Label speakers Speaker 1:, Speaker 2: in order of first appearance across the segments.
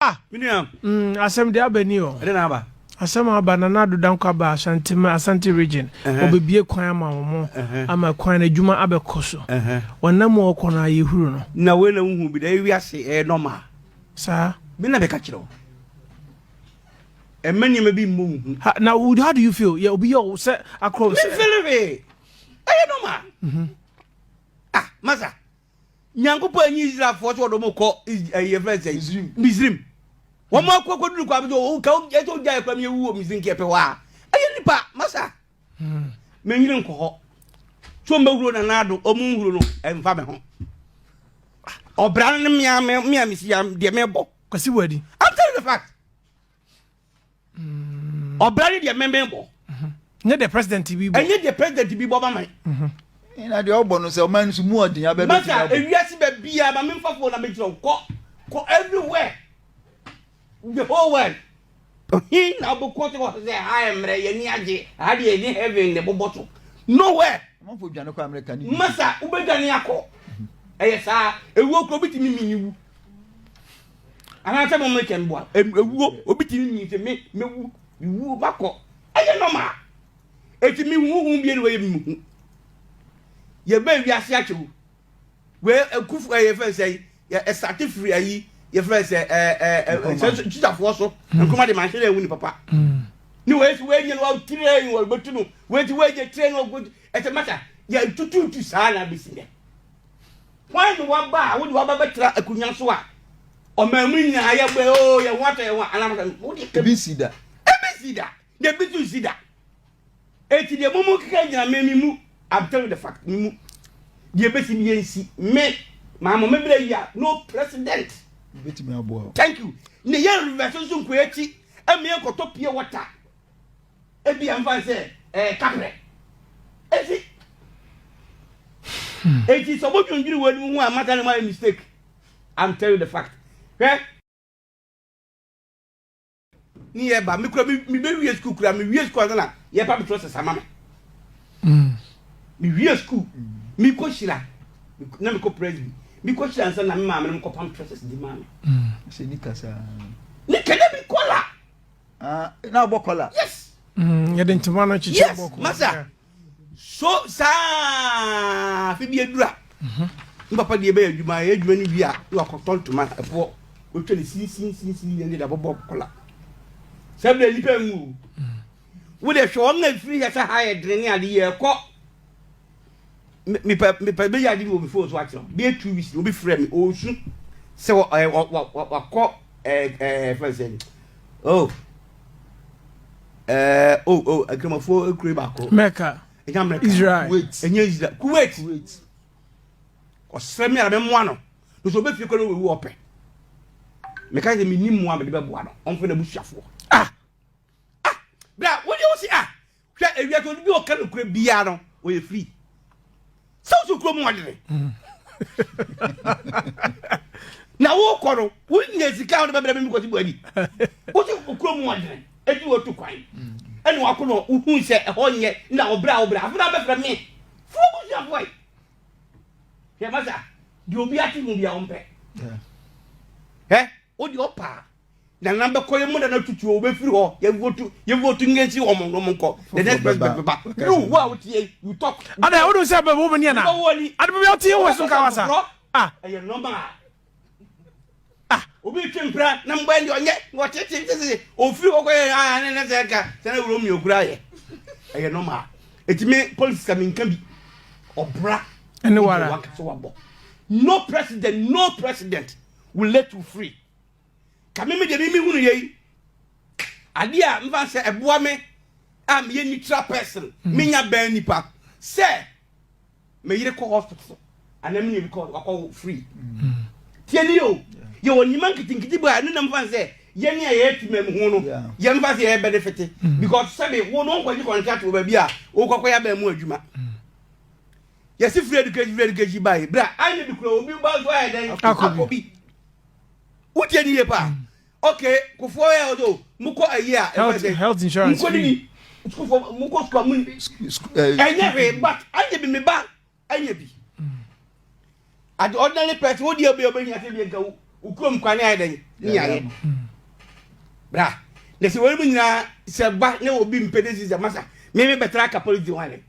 Speaker 1: Ah, menua. Mm, asɛm
Speaker 2: de aba ni o. Ɛde na aba. Asɛm
Speaker 1: aba na Nado
Speaker 2: Danko aba Asante ma Asante region. Obebie kwan ama wɔn ama kwan na adwuma abɛkɔ so. Wɔnam mu ɔkɔ no ayɛ huru no. Na wei na wohu bi da
Speaker 1: ewi ase ɛyɛ normal. Saa.
Speaker 2: Me na bɛka kyerɛ wo.
Speaker 1: Ɛmɛ nneɛma bi mmɔ wo hu. Na how do you
Speaker 2: feel? Yeah, obi yɛ wo sɛ akɔrɔ. Me feel it.
Speaker 1: ɛyɛ nɔma mhm. ah masa nyankopɔn anyi israelfoɔ sɛ wɔde wɔn kɔ ɛyɛ fɛn sɛ misrim wɔn akɔ akɔ duru kɔ abɛsɛ wɔn ka ɛsɛ wɔn gya ɛkura mi ewu wɔ misrim kɛpɛ hɔ a ɛyɛ nipa masa mhm. mɛ nyere nkɔ hɔ so mbɛ huro na naado ɔmo nhuro no ɛnfa mi ho ɔbra no mmea mmea mesi ya deɛ mɛbɔ kwasi wɔ adi i'm
Speaker 2: telling the fact.
Speaker 1: ɔbra ne deɛ mmɛmɛ bɔ nyɛ deɛ
Speaker 2: president bi bɔ ɛnyɛ deɛ president bi bɔ
Speaker 1: mama na deɛ
Speaker 3: ɔbɔ no sɛ ɔma no so mu ɔden abɛbɛ masa ewiase
Speaker 1: baabiara ma memfa fo na mekyerɛ wo kɔ kɔ everywhere the whole world hin na wobɛkɔ so sɛ ha mmerɛ yɛni agye ha deɛ ɛne heaven ne bobɔ so nowhere
Speaker 3: masa wobɛdwane akɔ
Speaker 1: ɛyɛ saa ɛwuo kuro bitumi mini wu anaasɛ mo mmekyɛ mboa ewuo obi ti ni sɛ me mewu mewu makɔ ɛyɛ nɔma eti me hu hu bie ne wɔyɛ me hu yɛbɛ wiase akyɛw wei ekufu ɛyɛ fɛn sɛ yi ɛsate firi ayi yɛ fɛn sɛ ɛɛ ɛɛ sɛ tusafoɔ so mm. nkoma de ma ahyɛ dɛ ewu ni papa mm. ne wɔyɛ si wɔyɛ nyɛ no wɔn tirɛ ni wɔn bɛ tu no wɔyɛ ti wɔyɛ nyɛ tirɛ ni wɔn bɛ tu ɛsɛ mata yɛ tututu saa na bɛ si dɛ. Hwan ne w'aba a wode w'aba bɛtra akonnwa so a ɔman mu nyinaa yɛbɔ oo oh, yɛn ho atɔ yɛn ho anam sɛ wode ɛka bi si da ɛbi
Speaker 3: si da
Speaker 1: na ɛbi so si da eti deɛ mo mo keka gyina me me mu I'm telling the fact me mu deɛ ɛbɛsi mi yɛn si me maa mo mebere yi a no president thank you ne yɛn reverse nso nkɔ akyi ɛmi yɛn kɔtɔ pie water. Ebia mfa no sɛ ɛyɛ kaprɛ. Eti, eti sɛ wodwendwene wei mu ho a, mata ne ma yɛ mistake. I'm telling you the fact. Hwɛ. Ne yɛ ba, me kura me me bɛ wie sukuu kura, me wie sukuu ansa na yɛ ba betɔ sɛ sama me. Mm. Me wie sukuu, me kɔ hyira, na me kɔ presby, me kɔ hyira ansa na me maame no kɔ pam trɔsɛs di maame. Mm. Sɛ nika
Speaker 3: saa. Nika na
Speaker 1: bi kɔla. Ah, na
Speaker 3: ɔbɔ kɔla. Yes. Mm,
Speaker 1: yɛde ntoma
Speaker 2: no kyekyɛ yes, bɔ kɔla. Yes, masa.
Speaker 1: So saa fi bi adura. Mhm. Mm papa deɛ bɛyɛ adwuma, yɛ adwuma no wie a, na wakɔtɔ ntoma ɛboɔ. Otwa ne sinsinsinsin yɛn de abɔbɔ kɔla. Sɛ bɛ nipa nwu. Mm. Wo de hwɛ wɔn na firi yɛ sɛ ha yɛ dene ne ade yɛ kɔ. me me pɛ me pɛ bɛyɛ ade bi wɔ me phone so akyerɛ wo bɛyɛ two weeks na obi frɛ me ɔresu sɛ wɔ ɛɛ wɔ wɔ wakɔ ɛɛ ɛɛ fɛn sɛ oh ɛɛ oh oh akramafoɔ ekure baako. mɛka ɛnyɛ amɛka
Speaker 2: israel kuwait ɛnyɛ israel
Speaker 1: kuwait kuwait ɔsrɛ mi ara mɛ mua no nso obe fie kɔ na owu ɔpɛ mɛka sɛ mi ni mua mɛ de bɛ bua no ɔnfɛ na ebusuafoɔ ah ah bra wɔn yɛ wɔsi ah. Hwɛ ewiase obi a ɔka nokorɛ biara no ɔyɛ free sɛ wosɛ kurom ɔdene na wokɔ no wonya sika wode bɛbrɛ me mekɔsi buadi wosɛ kurom ɔdene ɛti watu kwan ɛne wako no wohu sɛ ɛhɔ nyɛ na ɔbrɛ a wobrɛ afei na bɛfrɛ me fo busuafoɔ yi hwɛ masa deɛ obi ate ho bia ɔmpɛ ɛ wode ɔpaa Na na bɛkɔ yɛ mu na na tutu o bɛfiri hɔ yɛ votu yɛ votu nye nsi wɔn wɔn nkɔ the next president bɛba yiwu wo a wotie yi you talk. Ada o de sɛ bɛ wo bɛ
Speaker 2: ni ana adi bɛ bɛ ɔti yɛ wɔ so ka wasa. Ah ɛyɛ nɔɔma
Speaker 1: ah obi twi mpira na mbɔ ɛni ɔnyɛ ɔtete ntete ofiri hɔ kɔ yɛ ah ne ne sɛ nka sɛ ne wuro mi okura yɛ ɛyɛ nɔɔma etimi polisi sami nka bi ɔbra ɛni wara
Speaker 2: wakasa wabɔ
Speaker 1: no president no president will let you free. Ka me me deɛ me me hunu yɛ yi adeɛ a mfa sɛ ɛboa me a meyɛ neutral person mm. menya bɛn nipa sɛ meyere kɔ hospital anaa me nua bi kɔ wakɔ free mm. tie ne o yɛwɔ nnwuma nketenkete bi a ɛno nam fa sɛ yɛne a yɛyɛ timam ho no yɛmfa sɛ yɛyɛ benefit mm. because sɛbe wo no nkɔgye contract wɔ baabi a wokɔkɔ yɛ abɛn mu adwuma yɛsi free education free education baa yi bra anyɛ bi kura obi ba nso ayɛ dɛn akɔ bi wotie ne yie paa ok kofoɔ yɛ ɔdɔ mokɔ ayi a health insurance mokɔ
Speaker 2: nini
Speaker 1: sukufoɔ mokɔ sukuu amu ɛnyɛ hwee but anyɛ bi me ba anyɛ bi ade ordinary person wo deɛ bɛyɛ ɔbɛhia sɛ deɛ nka wokurom kwane ayɛ dɛn ne yɛayɛ bra na sɛ wɔnom nyinaa sɛ ba ne obi mpɛ de sisɛ masa meme bɛtra ka polisi ho adɛn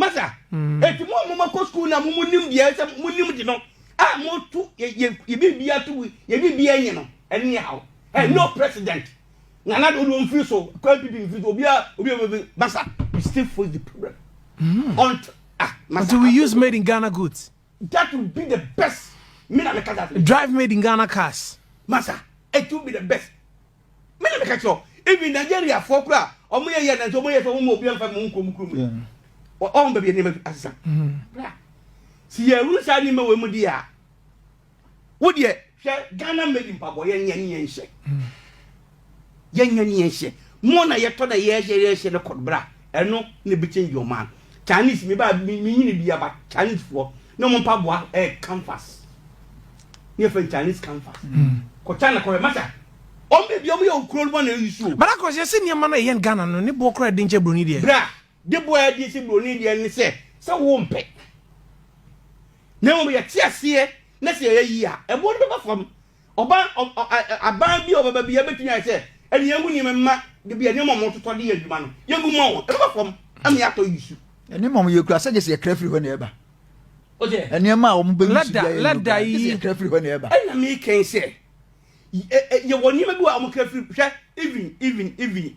Speaker 1: masa mm. eti mo a mo ma kɔ sukuu na mo mo nim deɛ sɛ mo nim de no a mo to yɛ yɛ yɛ biribi ato yɛ biribi anyi no ɛne yɛ haw ɛ no president nana de olu nfiri so kɔ npp nfiri so obi a obi a obi masa you still face the problem mm. until ah masa until
Speaker 2: we use made in ghana goods that will be the
Speaker 1: best me na me kasa drive made in ghana cars
Speaker 2: masa it
Speaker 1: will be the best Me na meka kyerɛ even Nigeria foɔ kora a wɔn yɛ yɛ nanso wɔn yɛ fɛ wɔn mu obi anfa mu wɔn kurom kurom yɛ wɔn baabi nneɛma bi asesa bra si yɛ wuru saa nneɛma wɔ mu di a wo deɛ hwɛ Ghana made mpaboa yɛn nyɛ ne yɛn hyɛ yɛn nyɛ ne yɛn hyɛ mo na yɛtɔ na yɛhyɛ yɛhyɛ ne kɔd bra ɛno ne bi change your man. Chinese me ba me me nyini bia ba Chinese foɔ ne ɔmo mpa boa ɛɛ eh, canvas ne yɛfɛ Chinese canvas mm. kɔ China kɔ masa ɔmo bɛ bia ɔmo yɛ okuro bɔ na eyi suo. Bada kɔ sɛ sɛ nneɛma na
Speaker 2: ɛyɛ Ghana no ne boɔ kora ɛde nkyɛ broni deɛ. Bra de boɔ
Speaker 1: ɛde nkyɛ broni deɛ ne sɛ sɛ wo mpɛ na wɔn yɛ te aseɛ na sɛ yɛ yi a ɛboɔ no bɛba fam Ɔbaa ɔ ɔ ɛ ɛ abaa bi a ɔbɛba biara bɛtumi ayɛ sɛ ɛne yɛn ho nneɛma mma de bi a nneɛma a wɔtotɔ de yɛ adwuma no yɛgu ma wɔn ɛbɛba fam ama yɛatɔ yisu. Nneɛma a wɔkura sɛ
Speaker 3: gye sɛ yɛkra firi hɔ na ɛba.
Speaker 1: Nneɛma a wɔbɛyi
Speaker 3: so biara yɛ no gye sɛ yɛkra
Speaker 2: firi hɔ na ɛba. Ɛna
Speaker 3: mekɛn sɛ
Speaker 1: yɛ ɛ ɛ yɛwɔ nneɛma bi wɔ a wɔkra firi hwɛ even even even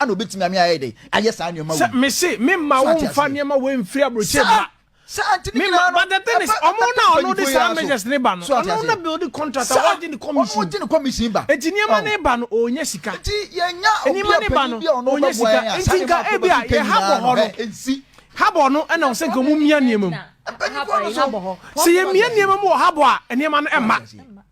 Speaker 3: ɛna obetumi ame ayɛ dɛ ayɛ saa nneɛma wei. mese me mma wo
Speaker 2: nfa nneɛma wei mfiri aburokyire mma. sɛ ante ne nyinaa no but the thing is ɔmo na ɔno de saa measures ne ba no ɔno na build contract a ɔgye ne commission ɔno gye ne commission ba eti nneɛma ne ba
Speaker 3: no
Speaker 2: ɔnya sika eti yɛnya
Speaker 3: obi a panyin bi a ɔno bɛ
Speaker 2: bɔ yɛn a saa nneɛma akɔ bɛ fi panyin naa no ɛ nsi habɔ
Speaker 3: no ɛna
Speaker 2: ɔsɛ nka ɔmo mia nneɛma mu mpanyinfoɔ no so sɛ yɛ mia nneɛma mu wɔ habɔ a nneɛma no ɛma.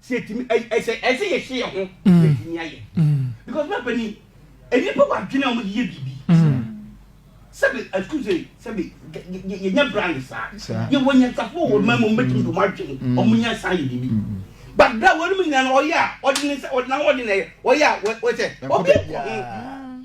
Speaker 1: sɛ ɛtumi ɛyɛ ɛsɛ ɛsɛ yɛhyɛ yɛn ho na ɛtumi ayɛ because na panin nnipa wɔ adwene a wɔde yɛ biribi sɛbi excuse me sɛbi yɛnyɛ brand saa yɛwɔ nyansafo wɔ mmaa mu wɔn bɛtumi de wɔn adwene wɔn nya saa yɛ biribi but bra wɔn mu nyinaa ɔyɛ a ɔde ne nsa ɔde na ɔde na ɛyɛ ɔyɛ a wɔsɛ ɔbɛ kɔ ho.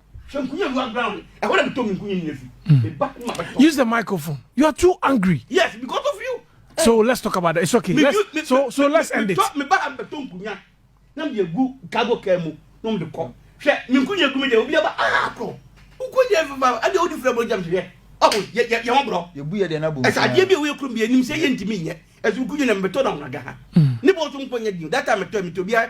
Speaker 2: Use the microphone. You are too angry. Yes, because of you.
Speaker 1: So let's talk about
Speaker 2: that. It's okay. Me, let's, me, so so me, let's end it. Me ba hambe to nkunya.
Speaker 1: Na me gu cargo car mu. No me de ko. Hwe, me nkunya gu me de obi aba ah ko. Nkunya fa fa. Ade odi fura bro jam hwe. Oh, ye ye ye bro. Ye bu ye de na bu. Esa
Speaker 3: ade bi we krum bi enim
Speaker 1: se ye ntimi nye. Esu nkunya na me to na unaga ha. Ni bo so nkunya di. That time to me to bi